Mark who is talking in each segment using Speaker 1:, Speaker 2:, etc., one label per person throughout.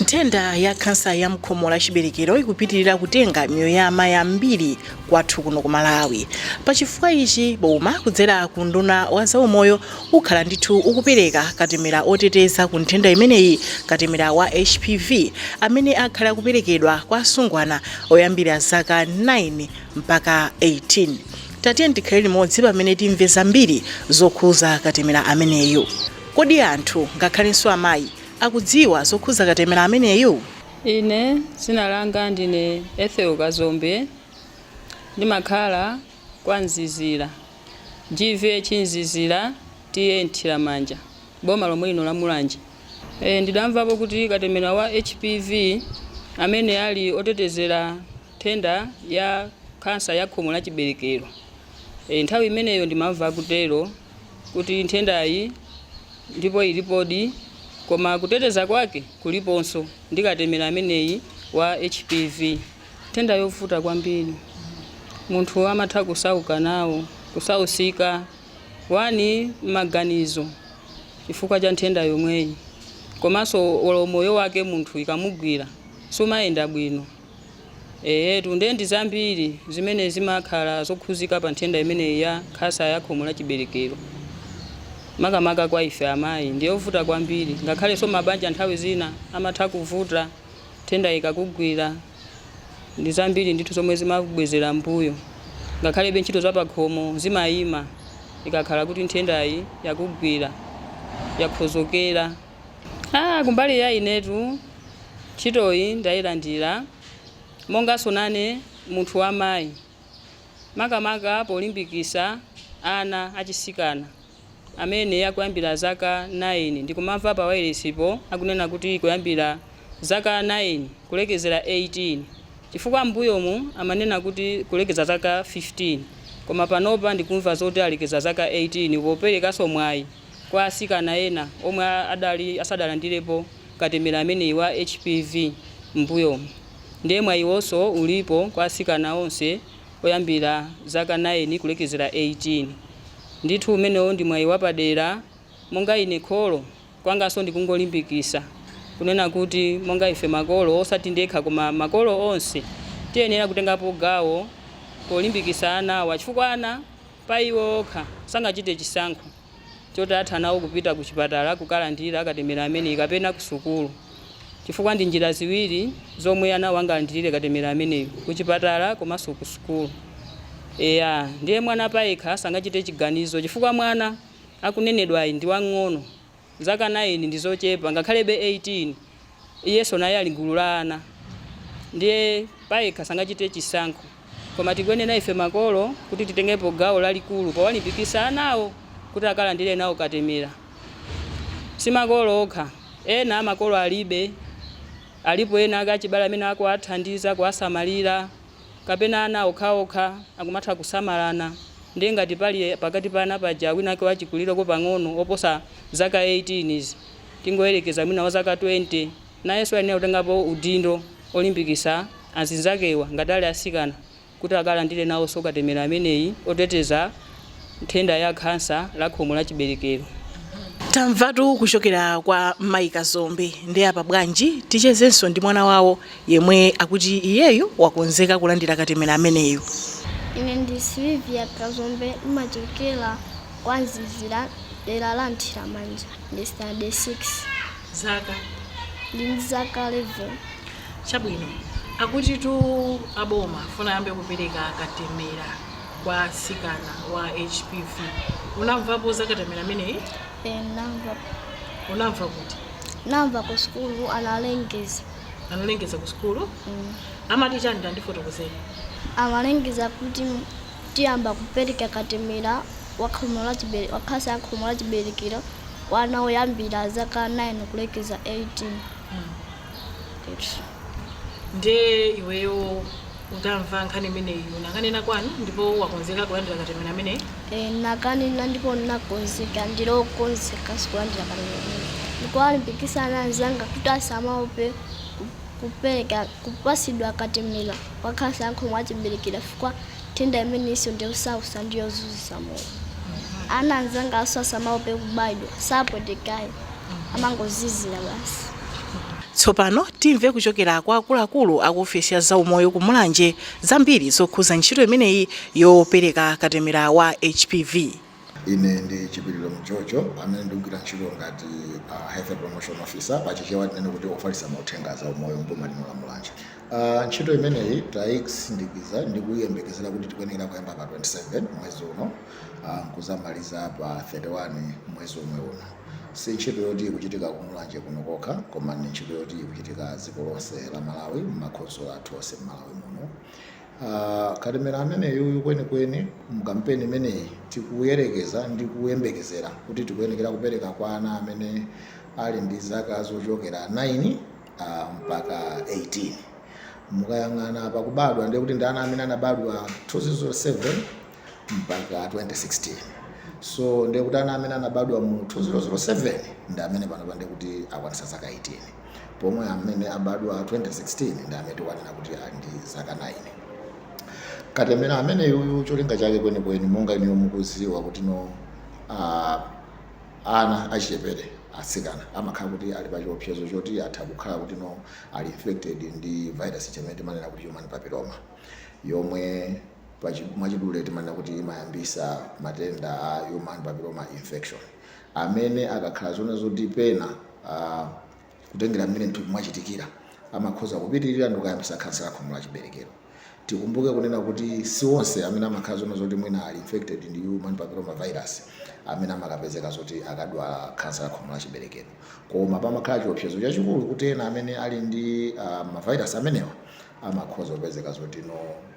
Speaker 1: nthenda ya khansa ya mkhomo la chiberekero ikupitirira kutenga miyoyo ya amayi ambiri kwathu kuno ku malawi pachifukwa ichi boma kudzera ku unduna wa zaumoyo ukhala ndithu ukupereka katemera oteteza ku nthenda imeneyi katemera wa hpv amene akhala akuperekedwa kwa asungwana oyambira zaka 9 mpaka 18 tatiyeni tikhale limodzi pamene timve zambiri zokhuza katemera ameneyu kodi anthu ngakhalenso amayi akudziwa zokhuza katemera ameneyu?
Speaker 2: Ine dzina langa ndine Ethel Kazombe ndimakhala kwa Mzizira GVH Mzizira TA Mthiramanja boma lomwe lino la Mulanje. Eeh ndidamvapo kuti katemera wa HPV amene ali otetezera nthenda ya khansa ya khomo la chibelekero eeh nthawi imeneyo ndimamva kutero. kuti nthendayi ndipo ilipodi koma kuteteza kwake kuliponso ndi katemera ameneyi wa HPV. Nthenda yovuta kwambiri. Munthu amatha kusauka nawo, kusausika, 1 maganizo chifukwa cha nthenda yomweyi komanso olo moyo wake munthu ikamugwira sumayenda bwino. Eetu, ndiye ndi zambiri zimene zimakhala zokhuzika pa nthenda imeneyi ya khasa ya khomo la chiberekero. Makamaka kwa ife amayi ndi yovuta kwambiri, ngakhalenso mabanja nthawi zina amatha kuvuta nthendayi ikakugwira. Ndi zambiri ndithu zomwe zimabwezera m'mbuyo, ngakhalebe ntchito za pakhomo zimayima ikakhala kuti nthendayi yakugwira, yakhozokera. Kumbali ya inetu ntchitoyi ndayilandira monganso nane munthu wa mayi makamaka polimbikisa ana achisikana amene akuyambira zaka 9 ndikumamva pa wailesipo akunena kuti kuyambira zaka 9 kulekezera 18 chifukwa m'mbuyomu amanena kuti kulekeza zaka 15 koma panopa ndikumva zoti alekeza zaka 18 poperekaso mwayi kwa atsikana ena omwe adali asadalandirepo katemera ameneyi wa HPV m'mbuyomu nde mwayiwonso ulipo kwa atsikana onse oyambira zaka 9 kulekezera 18. Ndithu umenewo ndi mwayi wapadera monga ine kholo kwanganso ndikungolimbikisa kunena kuti monga ife makolo osati ndekha koma makolo onse tiyenera kutengapo gawo polimbikisa anawa chifukwa ana pa iwo okha. Sangachite chisankho choti atha nawo kupita ku chipatala kukalandira katemera ameneyi kapena ku sukulu chifukwa ndi njira ziwiri zomwe anawo angalandirire katemera ameneyi, ku chipatala komanso ku sukulu. Eya, ndiye mwana payekha sangachite chiganizo chifukwa mwana akunenedwayi ndi wamng'ono. Zaka 9 ndi zochepa ngakhalebe 18 iyenso naye ali gulu la ana ndiye payekha sangachite chisankho koma tikuyenera ife makolo kuti titengepo gawo lalikulu powalimbikisa anawo kuti akalandire nawo katemera. Si makolo okha ena makolo alibe alipo ena kaya achibale amene akuwathandiza kuwasamalira. kapena ana okhaokha akumatha kusamalana ndiye ngati pali pakati pa ana paja wina wake wachikulireko pang'ono woposa zaka 18 tingoyerekeza mwina wa zaka 20 nayenso ayenera kutengapo udindo olimbikitsa azinzakewa ngati ali atsikana kuti akalandire nawonso katemera ameneyi oteteza nthenda ya khansa la khomo la chiberekero.
Speaker 1: Tamvatu kuchokera kwa Mayi Kazombe ndiye apa bwanji tichezenso ndi mwana wawo yemwe akuti iyeyo wakonzeka kulandira katemera ameneyo. Ine ndi
Speaker 3: Sylvia Kazombe ndimachokera kwa Mzizira dera la Mthiramanja ndi standard 6.
Speaker 1: Zaka? Ndili
Speaker 3: ndi zaka 11. Chabwino.
Speaker 1: Akutitu aboma afuna ayambe kupereka katemera. kwa atsikana wa HPV. Unamvapo za katemera ameneyi? Eh, namva
Speaker 3: Unamva
Speaker 1: kuti? namva ku
Speaker 3: sukulu analengeza Analengeza ku
Speaker 1: sukulu? Mm. Amati chani tandifotokozeni? amalengeza
Speaker 3: kuti tiyamba kupereka katemera wa khomo la chibere- wa khansa ya khomo la chiberekero kwa ana oyambira zaka 9 kulekeza 18 Mm.
Speaker 1: Nde iweyo utamva nkhani imeneyi unakanena kwanu ndipo wakonzeka kulandira katemera ameneyi? Eh, ndinakanena
Speaker 3: ndipo ndinakonzeka, ndili okonzekanso kulandira katemera ameneyi. Ndikuwalimbikitsa ana anzanga kuti asamaope kupereka, kupatsidwa katemera wa khansa ya khomo la chibelekero chifukwa Nthenda imeneyinso ndi yosausa ndi yozunzisa moyo. Ana anzanganso asamaope kubayidwa, sapwetekayi, amangozizira basi.
Speaker 1: Tsopano timve kuchokera kwa akuluakulu aku ofesi ya zaumoyo ku Mulanje zambiri zokhuza ntchito imeneyi yopereka katemera wa HPV. Ine
Speaker 4: ndi Chipiliro Mjojo amene ndikugwira ntchito ngati a Health Promotion Officer, pa Chichewa tinene kuti ofalitsa mauthenga a zaumoyo m'boma lino la Mulanje. Ntchito imeneyi taisindikiza ndi kuyembekezera kuti tikuyenekera kuyamba pa 27 mwezi uno n'kudzamaliza pa 31 mwezi womwe uno. Si ntchito yoti ikuchitika ku Mulanje kuno kokha koma ndi ntchito yoti ikuchitika dziko lonse la Malawi m'makhonsolo athu onse m'Malawi muno. Aaa katemera ameneyuyu kwenikweni mu kampeni imeneyi tikuyerekeza ndi kuyembekezera kuti tikuyenekera kupereka kwa ana amene ali ndi zaka zochokera 9 uh, mpaka 18 mukayang'ana pakubadwa ndiye kuti ndi ana amene anabadwa 2007 mpaka 2016 so ndiye kuti ana amene anabadwa mu 2007 ndi amene panopa ndiye kuti akwanisa zaka 18 pomwe amene abadwa 2016 ndi amene tikwanena kuti ali ndi zaka 9 katemera ameneyuyu cholinga chake kwenikweni monga inuyo mukuziwa kuti no uh, ana achichepere atsikana amakhala kuti ali pa chiopsezo choti atha kukhala kuti no ali infected ndi virus chimene timanena kuti human papilloma yomwe mwachidule timanena kuti imayambisa matenda a human papilloma infection amene akakhala zona zoti pena kutengera mmene mthupi mwachitikira amakhoza kupitirira ndikukayambisa khansa ya khomo la chiberekero tikumbuke kunena kuti si onse amene amakhala zona zoti mwina ali infected ndi human papilloma virus amene amakapezeka zoti akadwala khansa ya khomo la chiberekero koma pamakhala chiopsezo chachikulu kuti ena amene ali ndi uh, mavirus amenewa amakhoza kupezeka zoti no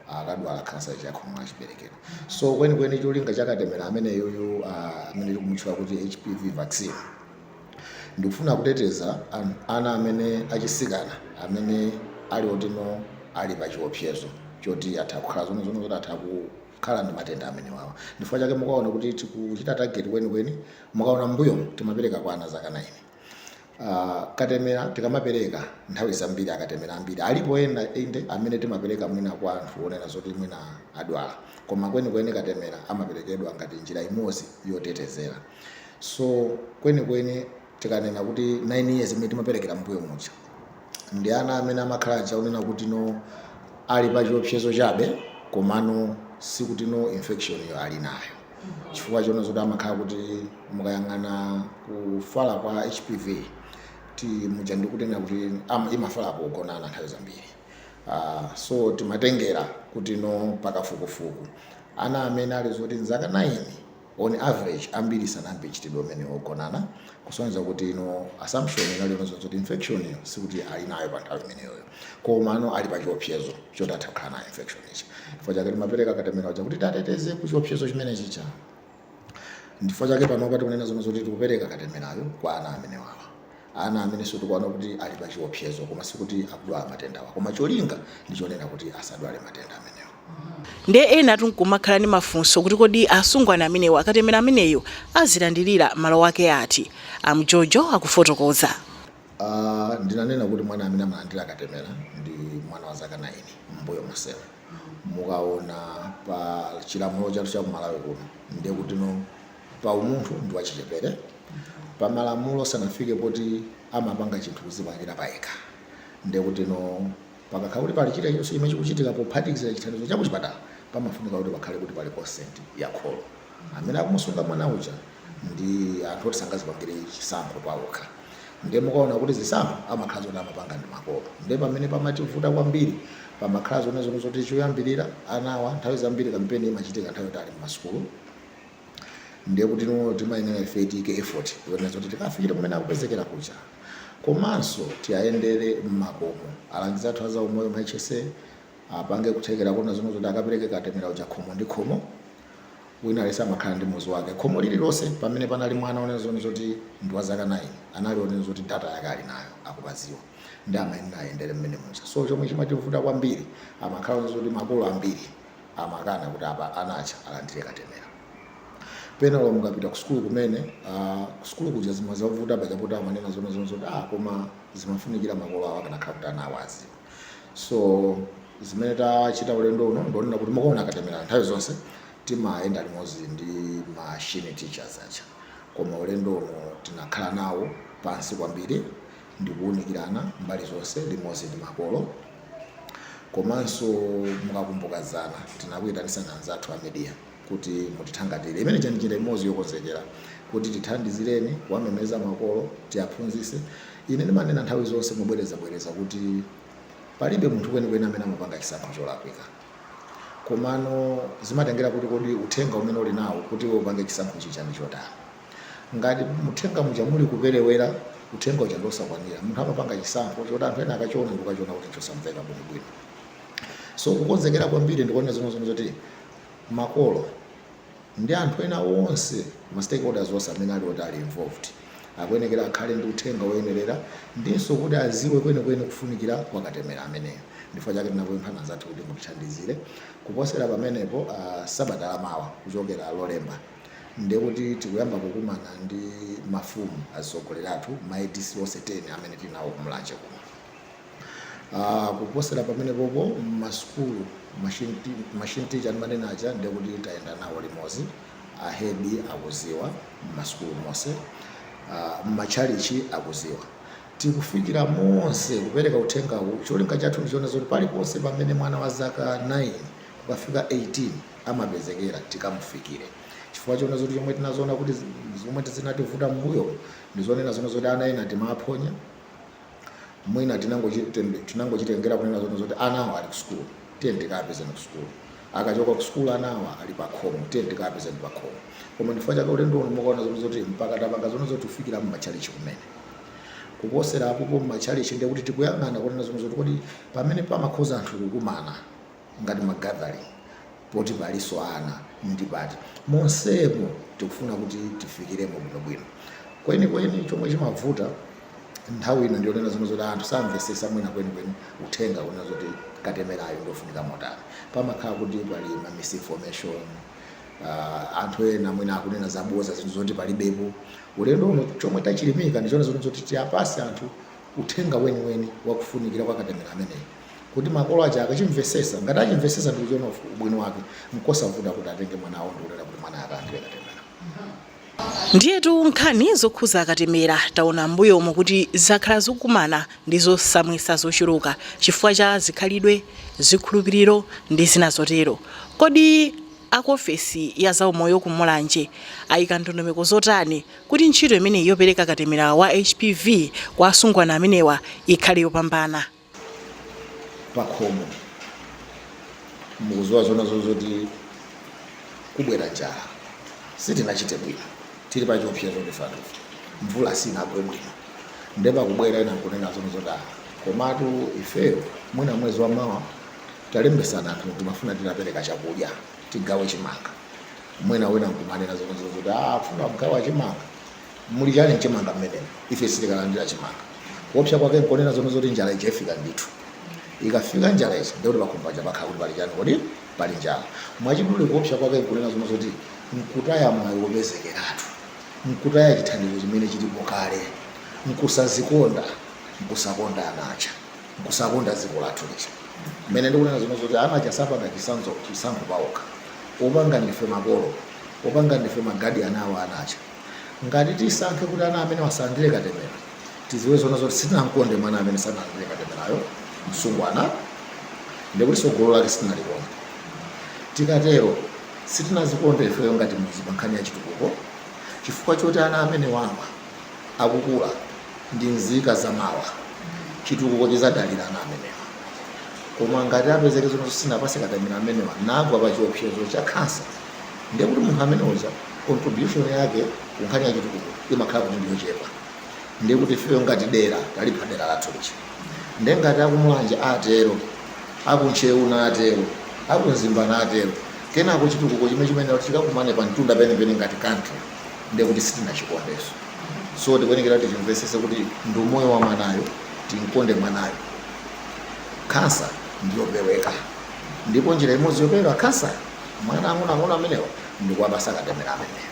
Speaker 4: akadwala khansa ya khomo la chiberekero so kwenikweni cholinga cha katemera ameneyuyu ah, amene tikumutchula kuti hpv vaccine ndikufuna kuteteza an- ana amene achisikana amene ali otino ali pa chiopsezo choti atha kukhala zona zona zoti atha kukhala ndi matenda amenewawa ndifukwa chake mukaona kuti tikuchita tageti kwenikweni mukaona mbuyo timapereka kwa ana zaka 9 Uh, katemera tikamapereka nthawi zambiri akatemera ambiri alipo ena inde amene timapereka mwina kwa anthu onena zoti mwina adwala koma kwenikweni katemera amaperekedwa ngati njira imodzi yotetezera so kwenikweni tikanena kuti 9 years imene timaperekera mbuyo muja ndi ana amene amakhala oja onena kuti no ali pa chiopsezo chabe komano sikuti no infection yo ali nayo chifukwa chona zoti amakhala kuti mukayang'ana kufala kwa hpv muja ndikutengera kuti imafala pogonana nthawi zambiri uh, so timatengera kuti no pakafukufuku ana amene ali zoti nzaka 9 on average ambiri sanayambe mchitidwe umene wogonana kusonyeza kuti no assumption inali yonazoti infection yo sikuti ali nayo pa nthawi imeneyoyo Komano ali pachiopsezo choti atha kukhala nayo infection ija. Chifukwa chake timapereka katemera uja kuti tiateteze ku chiopsezo chimene chija. Ndifukwa chake panopa tikunena zona zoti tikupereka katemerayo kwa ana amenewawa. Ana amenenso tikuona kuti ali pachiopsezo koma sikuti akudwala matendawa. Koma cholinga ndi chonena kuti asadwale matenda amenewa.
Speaker 1: Ndiye enatu n'kumakhala ndi mafunso kuti kodi asungwana amenewa katemera ameneyu azilandirira mmalo ake ati? A Mjojo akufotokoza.
Speaker 4: Ndinanena kuti mwana amene amalandira katemera ndi mwana wa zaka 9. M'mbuyo monsemu mukaona pa chilamulo chathu cha ku Malawi kuno ndiye kutino pa umunthu ndi wachichepere pa malamulo sanafike poti amapanga chinthu kudzipangira payekha ndiye kutino Pakakhala kuti pali chilichonse chimene chikuchitika pophatikizira chithandizo cha kuchipatala, pamafunika kuti pakhale kuti pali consent ya kholo, amene akumusunga mwana uja ndi anthu oti sangazipangire chisankho paokha. Ndiye mukaona kuti zisankho amakhala zoti amapanga ndi makolo, ndiye pamene pamativuta kwambiri. Pamakhala zonena zoti choyambirira anawa nthawi zambiri kampeni imachitika nthawi yoti ali mmasukulu. ndiye kuti timayenera ife tiike effort kuona zoti tikafikire kumene akupezekera kuja komanso tiyayendere mmakomo alangizi athu a zaumoyo ma hsa apange kuthekera kuona zonena zoti akapereke katemera uja khomo ndi khomo wina aliyense amakhala ndi muzi wake khomo lililonse pamene panali mwana onena zonena zoti ndi wa zaka 9 anali onena zoti data yake ali nayo akupaziwa ndiye amayenera ayendere mmene muja so chomwe chimativuta kwambiri amakhala onena zoti makolo ambiri amakana kuti apa ana aja alandire katemera pena lomwe mukapita kusukulu kumene ah, kusukulu kuja zimazavuta paja poti amanena zonena zonena zoti ah, koma zimafunikira makolo awo akanakhala kuti ana awo aziwa so zimene tachita ulendo uno ndi zonena kuti mukaona katemera nthawi zonse timayenda limodzi ndi ma SHN teachers aja koma ulendo uno tinakhala nawo pansi kwambiri ndi kuunikirana mbali zonse limodzi ndi makolo komanso mukakumbuka dzana tinakuitanitsani anzathu a media kuti mutithangatire imene ija ndi njira imodzi yokonzekera kuti tithandizireni kuwamemeza makolo tiaphunzise ine ndimanena nthawi zonse mobwerezabwereza kuti palibe munthu kwenikweni amene amapanga chisankho cholakwika komano zimatengera kuti kodi uthenga umene uli nawo kuti iwe upange chisankho chija ndi wotani Ngati mu uthenga muja muli kuperewera, uthenga uja ndi wosakwanira. Munthu amapanga chisankho choti anthu ena akachiona ndikukachiona kuti chosamveka bwino bwino. So kukonzekera kwambiri ndikuonera zomwe zomwe zoti makolo ndi anthu ena onse ma stakeholders onse amene ali oti ali involved akuyenekera akhale ndi uthenga woyenerera ndinso kuti aziwe kwenikweni kufunikira kwa katemera ameneyo ndifukwa chake tinakupemphani anzathu kuti mutithandizire kuposera pamenepo uh, sabata lamawa kuchokera lolemba ndiye kuti tikuyamba kukumana ndi mafumu, atsogoleri athu, ma ADC onse 10 amene tili nawo ku Mulanje kuno. Uh, kuposera pamenepopo mmasukulu ma SHN te- ma SHN teacher ndimanena aja ndiye kuti tayenda nawo limodzi ahedi akuziwa mmasukulu monse uh, mmatchalichi akuziwa tikufikira monse kupereka uthengawu cholinga chathu ndi chonena zoti paliponse pamene mwana wa zaka 9 kukafika 18 amapezekera tikamufikire chifukwa chona zoti chomwe tinazoona kuti zomwe zinativuta mbuyo ndi zonena zona zoti ana ena timaphonya mwina tinangochite- tinangochitengera kunena zona zoti anawo ali ku sukulu tiye tikapezeni ku sukulu akachoka ku sukulu anawa ali pakhomo tiye tikapezeni pakhomo koma ndifukwa chake ulendo uno mukaona zona zoti mpaka tapanga zona zoti tifikire mmatchalichi kumene kuposera apopo mmatchalichi ndiye kuti tikuyang'ana kunena zona zoti kodi pamene pamakhoza anthu kukumana ngati ma gathering poti palinso ana ndi pati monsemo tikufuna kuti tifikiremo bwinobwino kwenikweni chomwe chimavuta nthawi ina ndionena zona zoti anthu samvesesa mwina kwenikweni uthenga kunena zoti katemerayo ndiofunika motani pamakhala kuti pali ma misinformation uh, anthu ena mwina akunena zaboza zinthu zoti palibepo ulendo uno chomwe tachilimika ndichona zoti tiwapase anthu uthenga weniweni wakufunikira kwa katemera ameneyi Kuti makolo aja akachimvesesa? Ngati achimvesesa ndikuchiona ubwino wake, nkosavuta kuti atenge mwanawo ndikunena kuti mwanayo akalandile
Speaker 1: katemela. Ndiyetu nkhani zokhuza katemera taona m'mbuyomu kuti zakhala zikukumana ndi zosamwisa zochuluka chifukwa cha zikhalidwe, zikhulupiliro ndi zina zotero. Kodi a ku ofesi ya za umoyo ku Mulanje ayika ndondomeko zotani kuti ntchito imeneyi yopeleka katemera wa HPV kwa asungwana amenewa ikhale yopambana?
Speaker 4: pakhomo mukuziwa zona zozoti kubwera njala sitinachite bwino tili pa chiopsezo ndithu mvula sinagwe bwino nde pakubwera ena nkunena zona zoti ah, komatu ifeyo mwina mwezi wa mawa talembesana anthu timafuna tidzapereka chakudya tigawe chimanga mwina wina nkumanena zona zozoti ah, funa kugawa chimanga Muli chani mchimanga mmenemo? Ife sitikalandira chimanga. Kuopsa kwake nkonena zoona zoti njala ija ifika ndithu. Ikafika njala ija ndiye kuti pakhomo paja pakhala kuti pali chani kodi? Pali njala. Mwachidule kuopsa kwake nkunena zoona zoti nkutaya mwayi wopezekeratu. Nkutaya chithandizo chimene chilipo kale. Nkusazikonda, nkusakonda ana aja. Nkusakonda dziko lathu lija. Mmene ndikunenera zoona zoti ana aja sapanga chisanzo, chisankho paokha. Opanga ndife makolo. Opanga ndife magadiyani awo ana aja. Ngati tisankhe kuti ana amenewa asalandire katemera, tidziwe zoona zoti sitinam'konde mwana amene sanalandire katemerayo, msungwana, ndi kuti tsogolo lake sitinalikonda. Tikatero, sitinadzikonde ifeyo ngati mudzi pankhani ya chitukuko chifukwa choti ana amenewa akakula ndi nzika za mawa. Chitukuko chidzadalira ana amenewa. Koma ngati apezeke zoona zoti sitinawapatse katemera amenewa, nagwa pachiopsezo cha khansa. ndiye kuti munthu amene uja contribution yake ku nkhani ya chitukuko imakhala kuti ndiyochepa ndiye kuti ifeyo ngati dera talipha dera lathu lija ndiye ngati akumulanje atero akuntcheu natero akumzimba natero kenako chitukuko chimene chimene kuti chikakumane pa mtunda penepene ngati country ndiye kuti sitinachikonde so tikuyenekera kuti timvesese kuti ndi moyo wa mwanayo timkonde mwanayo khansa ndiyopeweka ndipo njira imodzi yopewera khansa mwa ana ang'onoang'ono amenewa ndikuwapasa katemera ameneyo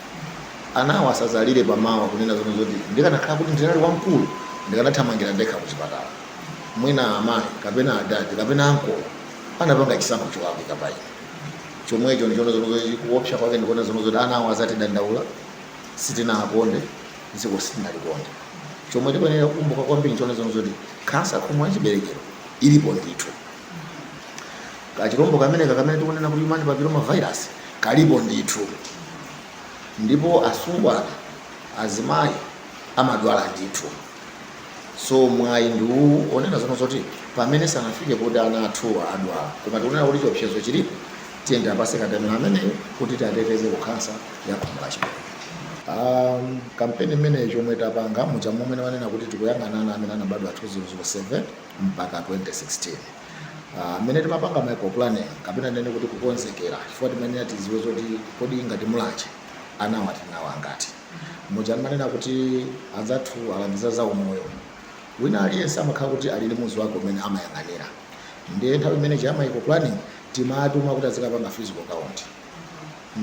Speaker 4: anawo asazalire pamawa kunena zonena zoti ndikanakhala kuti ndinali wamkulu ndikanathamangira ndekha kuchipatala mwina amayi kapena adadi kapena ankolo anapanga chisankho cholakwika pa ine chomwecho ndi chonena zoti kuopsa kwake ndi konena zonena zoti anawo azatidandaula sitinakonde dziko sitinalikonde chomwe tikuyenera kukumbuka kwambiri nchonena zoti khansa ya khomo la chiberekero ilipo ndithu kachilombo kameneka kamene tikunena kuti human papilloma virus kalipo ndithu ndipo asungwana azimayi amadwala ndithu so mwayi ndi uwu onena zonena zoti pamene sanafike kuti ana athuwa adwala koma tikunena kuti chiopsezo chilipo tiyeni tiapase katemera ameneyo kuti tiateteze ku khansa ya khomo la chiberekero um, kampeni imeneyi chomwe tapanga muja momwe wanena kuti tikuyang'ana ana amene anabadwa 2007 mpaka 2016 mmene uh, timapanga micro planning kapena tinene kuti kukonzekera chifukwa timayenera tiziwe zoti kodi ngati mulanje anawa tinawo angati muja ndimanena kuti anzathu alangiza za umoyo wina aliyense amakhala kuti ali ndi muzi wake umene amayang'anira ndiye nthawi imene ija ya micro planning timatuma kuti azikapanga physical count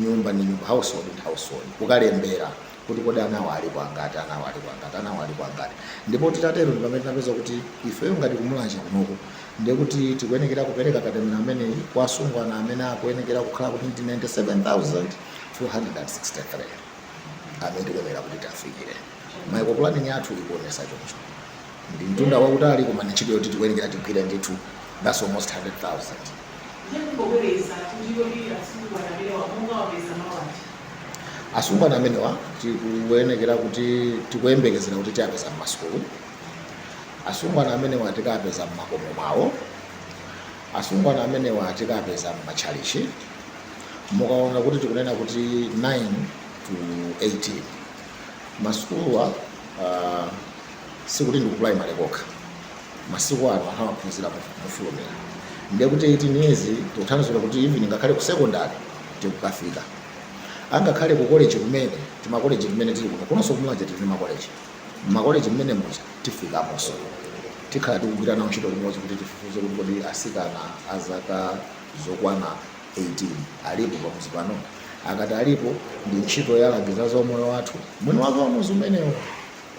Speaker 4: nyumba ndi nyumba household ndi household kukalembera kuti kodi anawa alipo angati, anawa alipo angati, anawa alipo angati. Ndipo titatero ndi pamene tinapeza kuti ifeyo ngati kumulanje kunoko ndiye kuti tikuyenekera kupereka katemera ameneyi kwa asungwana amene akuyenekera kukhala kuti ndi 97,263 amene tikuyenekera kuti tiwafikire. Microplaning yathu ikuonesa choncho. ndi mtunda wautali koma ndi ntchito yoti tikuyenekera tigwire ndithu that's almost 100,000. Ndiye kungobweretsa kuti kodi asungwana amenewa mukawapeza malo anji? Asungwana amenewa tikuyenekera kuti tikuyembekezera kuti tiapeza m'masukulu, asungwana amenewa tikapeza m'makomo mwawo, asungwana amenewa tikapeza m'matchalichi, mukaona kuti tikunena kuti 9 to 18 masukuluwa uh, Sikuti ndi ku primary kokha masiku ano anthu amaphunzira mofulumira ndiye kuti 18 years tikuthandauza kuti even ngakhale ku secondary tikukafika angakhale ku college kumene timakoleji timene tili kuno kunonso ku Mulanje tili ndi makoleji mmakoleji mmene muja tifikamonso tikhala tikugwira nawo ntchito limodzi kuti tifufuze kuti kodi asikana a zaka zokwana 18 alipo pamudzi pano akati alipo ndi ntchito ya alangizi a zaumoyo wathu mwini wake wa mudzi umenewo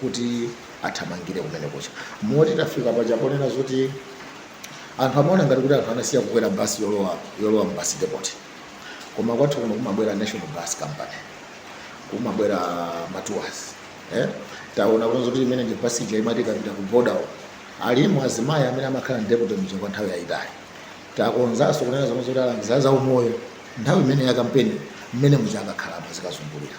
Speaker 4: kuti athamangire kumene kucha moti tafika paja ponena zoti anthu amaona ngati kuti anthu anasiya kukwera basi yolowa yolowa mu basi depot koma kwathu kuno kumabwera national bus company kumabwera matuwazi eh? taona kuti zoti imene ndi basi ija imati ikapita ku border uko. alimo azimayi amene amakhala ndi depot mija kwa nthawi yayitali takonzanso kunena zomwe zoti alangiza za umoyo nthawi imene ya kampeni mmene muja akakhalamo azikazungulira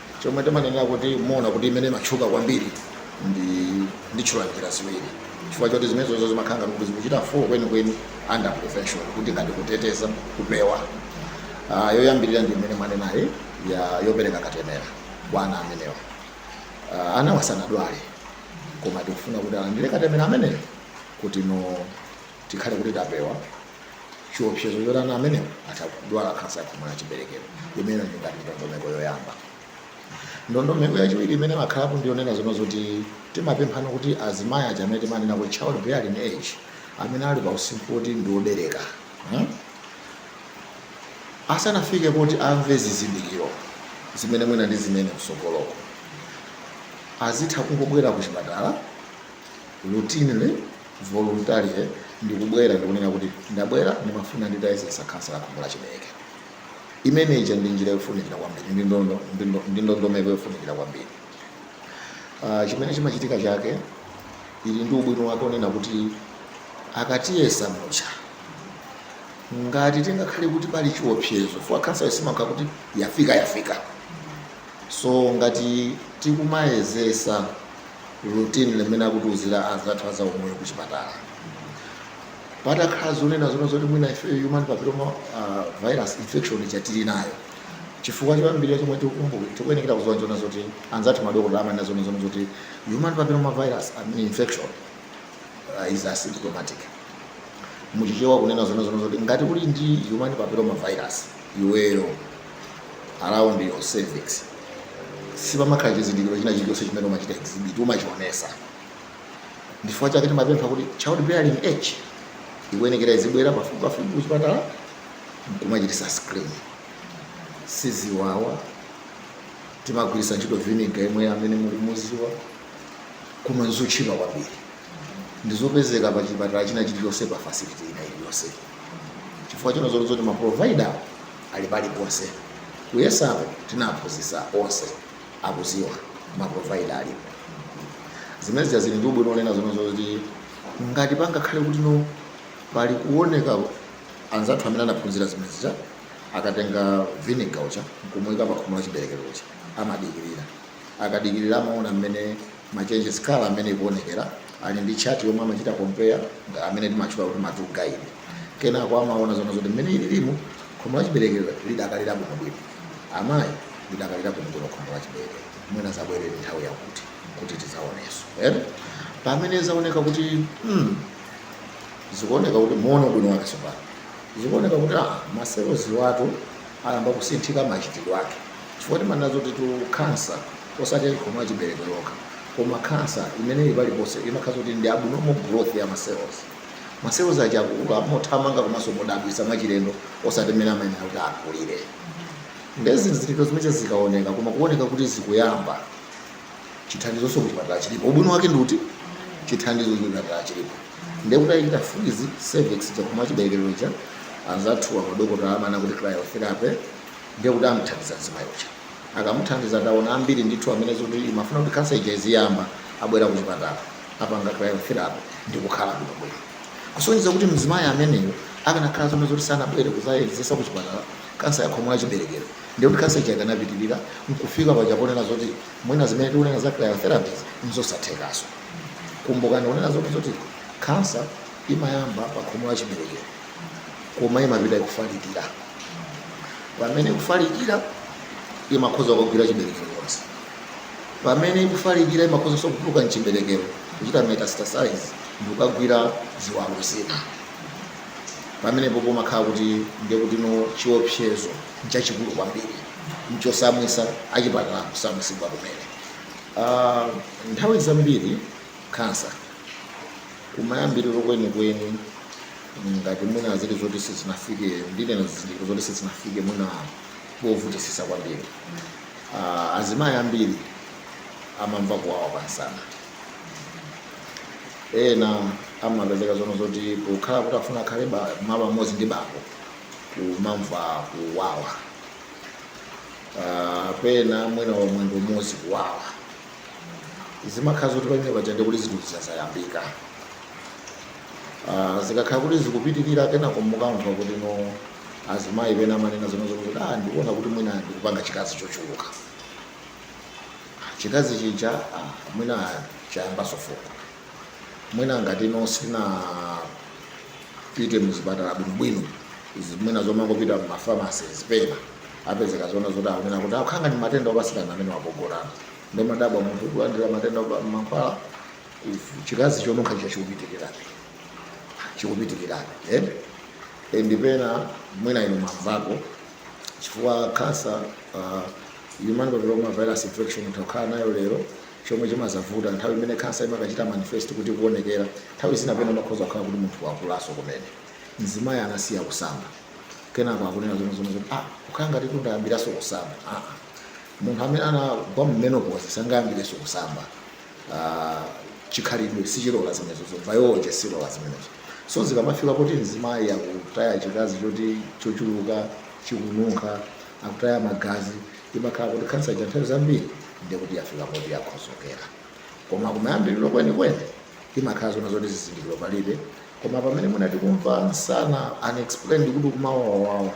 Speaker 4: chomwe timanenera kuti mumaona kuti imene imatchuka kwambiri nditchula njira ziwiri chifukwa choti zimenezozo zimakhala ngati kuti zikuchita full kwenikweni under prevention kuti ngati kuteteza kupewa Ah, yoyambirira ndi imene mwanenayi yopereka katemera kwa ana amenewa Ah, anawa sanadwale koma tikufuna kuti alandire katemera ameneyo kuti no tikhale kuti tapewa chiopsezo choti ana amenewa atha kudwala khansa ya khomo la chiberekero imeneyo ndi ngati ndondomeko yoyamba ndondomeko yachiwiri imene imakhalapo ndiyonena zonena zoti timapemphana kuti azimayi aja amene timanena kuti child bearing age amene ali pa usinkhu woti ndi obereka hmm? asanafike poti amve zizindikiro zimene mwina ndi zimene msogoloko azitha kungobwera ku chipatala routinely, voluntarily ndikubwera ndikunena kuti ndabwera ndimafuna nditayezetsa khansa ya khomo la chiberekero. Imene ija ndi njira yofunikira kwambiri ndi ndondo, ndi ndo- ndi ndondomeko yofunikira kwambiri. Ah, chimene chimachitika chake ili ndi ubwino wake onena kuti akatiyeza muja ngati tingakhale kuti pali chiopsezo fwa khansayo simakhala kuti yafika yafika so ngati tikumayezetsa routinely mmene akutiuzira anzathu azaumoyo ku chipatala patakhala zonena zoti mwina ife human papilloma uh, virus infection ija tili nayo chifukwa choyambirira chomwe tikukumbuka tikuyenekera kuziwa chonena zoti anzathu madokotala amanena zonena zoti human papilloma virus I mean infection uh, is asymptomatic muchichewa kunena zonena zoti ngati uli ndi human papilloma virus iweyo around your cervix sipamakhala chizindikiro china chilichonse chimene umachita exhibit umachionesa ndifukwa chake timapempha kuti child bearing age ikuyenekera izibwera pafupi pafupi kuchipatala nkumachitisa screen siziwawa, timagwiritsa ntchito vinegar yemwe amene mukumuziwa koma nzotchipa kwambiri ndi zopezeka pa chipatala china chilichonse pa facility ina iliyonse chifukwa chonena zoti ma provider ali paliponse kuyezako tinaphunzitsa onse akuziwa ma provider alipo zimene zija zili ndi ubwino onena zomwe zoti ngati pangakhale kuti no pali kuoneka anzathu amene anaphunzira zimene zija akatenga vinegar uja nkumuika pa khomo la chiberekero lija amadikirira akadikirira amaona mmene Ma changes a colour amene ikuonekera ali ndi chart yomwe amachita compare amene timatchula kuti ma 2 guide. Kenako amaona zonena zoti mmene ililimu khomo la chiberekero lidakali labwinobwino. Amayi lidakali labwinobwino khomo la chiberekero. Mudzabwerere nthawi yakuti kuti tidzaonenso. Pamene zaoneka kuti mm, zikuoneka kuti muone ubwino wake tsopano. Zikuoneka kuti ah, ma cells awatu ayamba kusinthika machitidwe ake. Chifukwa timanena zotitu khansa osati ya khomo la chiberekero yokha koma khansa imene ili paliponse imakhala zoti ndi abnormal growth ya ma cells. Ma cells aja akukula mothamanga komanso modabwitsa mwachilendo osati mmene amayenera kuti akulire. Nde zizindikiro zimenezi zikaoneka koma kuoneka kuti zikuyamba, chithandizonso kuchipatala chilipo. Ubwino wake ndi uti? Chithandizo kuchipatala chilipo. Nde kuti achita freeze cervix, khomo la chiberekero lija, anzathuwa madokotala amanena kuti cryotherapy, ndiye kuti amthandiza mzimayi uja akamuthandiza taona ambiri ndithu amene zoti imafuna kuti khansa ija iziyamba abwera kuchipatala apanga cryotherapy ndi kukhala bwino bwino kusonyeza kuti mzimayi ameneyo akanakhala zomwe zoti sanabwere kuzayezesa kuchipatala kansa ya khomo la chiberekero ndiye kuti kansa ija ikanapitirira nkufika paja ponena zoti mwina zimene tikunena za cryotherapy nzosathekaso kumbukani kunena zoti kansa imayamba pa khomo la chiberekero koma imapita ikufalikira pamene ikufalikira imakhoza kugwira chiberekero chonse pamene ikufalikira imakhozanso kutuluka mchiberekero kuchita metastasize ndikukagwira ziwalo zina pamenepo pomakhala kuti ndiye kuti no chiopsezo nchachikulu kwambiri nchosautsa achipatala kusautsidwa kumene nthawi zambiri khansa. Kumayambiriro kwenikweni, ngati mwina zili zoti sizinafike, ndinena zizindikiro zoti sizinafike mwina povutisisa kwambiri, ah, azimayi ambiri amamva kuwawa kwa msana. Ena amapezeka zono zoti pokhala kuti afuna akhale ba- malo amodzi ndi bambo kumamva kuwawa. Ah, pena mwina wamwendo umodzi kuwawa. zimakhala zoti pamene paja ndiye kuti zinthu zija zayambika Ah, zikakhala kuti zikupitirira kenako mukamva kuti no azimayi pena amanena zoona zoona kuti ah ndikuona kuti mwina ndikupanga chikazi chochuluka chikazi chija ah, mwina chayambaso fungo mwina ngati no sinapite muzipatala bwinobwino izi mwina zomangopita mumafamasi zipena apezeka zoona zoti akunena kuti akhala ngati matenda opatsirana amenewa pogonana ndimadabwa munthu kulandira matenda opa- mankhwala u- chikazi chonunkha chija chikupitirirabe chikupitirirabe eh? E, ndipena mwina inu mwamvako chifukwa kansa uh, human papilloma virus infection utakhala nayo lero chomwe chimadzavuta nthawi imene kansa imakachita manifest kuti kuonekera nthawi zina pena makhoza kukhala kuti munthu wakulaso kumene mzimayi anasiya kusamba kenako akunena zoona zoona zoti ah kukhala ngati kuti ndayambiranso kusamba ah munthu amene anagwa mu menopause sangayambirenso kusamba Ah, chikhalidwe sichilola zimenezo biology silola zimenezo so zikamafika kuti mzimayi akutaya chikazi choti chochuluka chikununkha akutaya magazi imakhala kuti kansa ija nthawi zambiri ndiye kuti yafika poti yakhodzokera koma kumayambiriro kwenikweni imakhala zoona zoti zizindikiro palibe Koma pamene mwina tikumva msana unexplained kuti kumawawawawa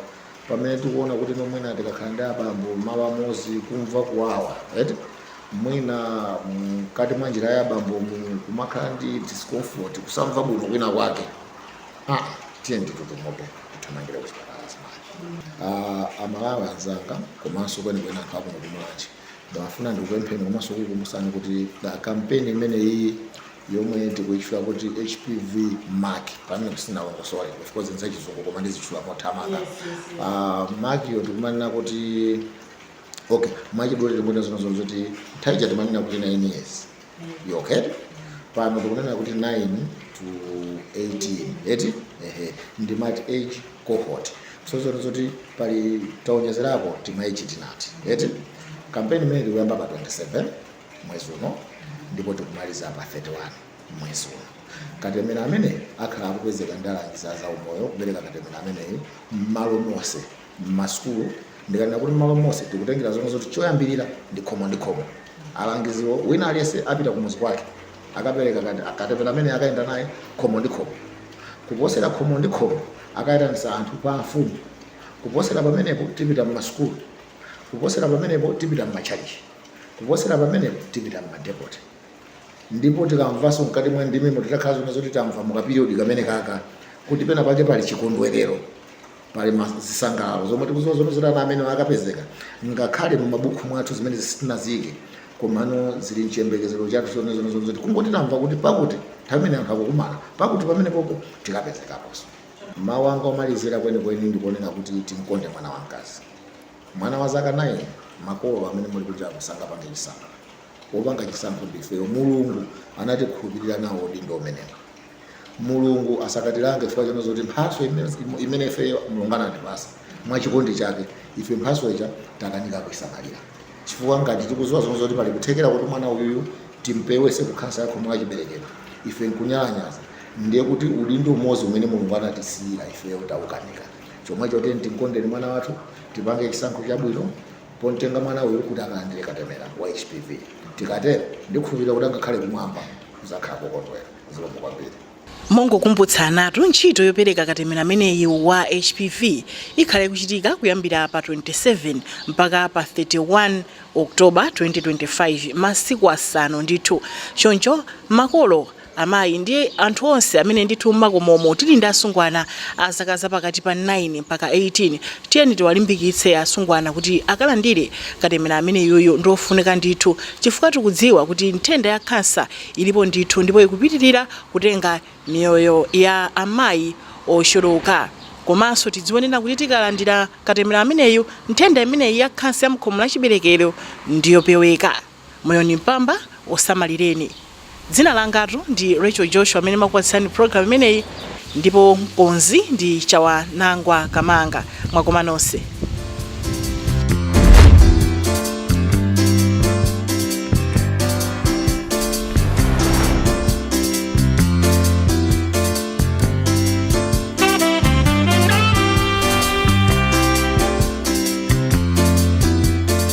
Speaker 4: pamene tikuona kuti no mwina tikakhala ndi abambo malo amodzi kumva kuwawa eti mwina mkati mwa njira ya abambo mu kumakhala ndi discomfort kusamva bwino kwina kwake ah tiyeni tutumoto tithamangire kuchipatala azimayi uh, aMalawi anzanga komanso kwenikweni anthu akuno ku Mulanje ndimafuna ndikupempheni komanso kukumbusani kuti uh, kampeni imeneyi yomwe tikuitchula kuti HPV MAC pamenepo sinalongosole of course nzachizungu koma ndizitchula mothamanga Yes, yes, yes. Ah, MAC yo tikumanena kuti okay mwachidule tikunena zoona zoona zoti nthawi ija timanena kuti 9 years yo okay pano tikunena kuti 9 to 18 eti ehe ndi multi age cohort so zoona zoti pali taonjezerapo tima age tinati eti kampeni imene tikuyamba pa 27 mwezi uno ndipo tikumaliza pa 31 mwezi uno. Katemera ameneyi akhala akupezeka ndi alangizi a zaumoyo kupereka katemera ameneyi m'malo monse m'masukulu ndikanena kuti m'malo monse tikutengera zonena zoti choyambirira ndi khomo ndi khomo alangiziwo wina aliyense apita kumuzi kwake akapereka kate- katemera amene akayenda naye khomo ndi khomo kuposera khomo ndi khomo akayitanisa anthu pa mfumu kuposera pamenepo tipita m'masukulu kuposera pamenepo tipita m'matchalichi Kuposera pamenepo tipita mmadepoti ndipo tikamvanso mkati mwa ndimemo titakhala zonena zoti tamva mukapiriyodi kamenekaka kuti pena pake pali chikondwerero pali ma- zisangalalo zomwe tikuziwa zonena zoti ana amene akapezeka ngakhale mu mabuku mwathu zimene sitinaziyike komano zili mchiyembekezero chathu zonena zoti kungoti tamva kuti pakuti nthawi imene anthu akukumana pakuti pamenepopo tikapezekaponso mawu anga omalizira kwenikweni ndikunena kuti timkonde mwana wamkazi Mwana wa zaka 9? Makolo amene muli kunjaku sangapange chisankho. Wopanga chisankho ndi ifeyo. Mulungu anatikhulupilira nawo udindo umenewu. Mulungu asakatilange chifukwa chonena zoti mphatso imene imene ifeyo Mulungu anatipasa mwa chikondi chake, ife mphatso ija takanika kuisamalira. Chifukwa ngati tikuziwa zonena zoti pali kuthekera kuti mwana uyuyu timpewese ku khansa ya khomo la chiberekero, ife nkunyalanyaza, ndiye kuti udindo umodzi umene Mulungu anatisiyira ifeyo taukanika. chomwecho tiyeni timkondeni mwana wathu tipange chisankho chabwino pomtenga mwana uyu kuti akalandire katemera wa hpv tikatero ndikukhulupirira kuti angakhale kumwamba kuzakhala kokondwera zikomo kwambiri
Speaker 1: mongokumbutsanatu ntchito yopereka katemera ameneyi wa hpv ikhala ikuchitika kuyambira pa 27 mpaka pa 31 october 2025 masiku asanu ndithu choncho makolo amayi ndi anthu onse amene ndithu mmakomomu tili ndi asungwana a zaka za pakati pa 9 mpaka 18, tiyeni tiwalimbikitse asungwana kuti akalandire katemera ameneyuyu ndi ofunika ndithu chifukwa tikudziwa kuti nthenda ya khansa ilipo ndithu ndipo ikupitirira kutenga miyoyo ya amayi ochuluka komanso tidziwe kunena kuti tikalandira katemera ameneyu nthenda imeneyi ya khansa ya mukhomo la chiberekero ndiyopeweka. Moyo ni mpamba, usamalileni. Dzina langatu ndi Racheal Joshua amene ndimakupatsilani program imeneyi ndipo mkonzi ndi Chawanangwa Kamanga. Mwakoma nonse.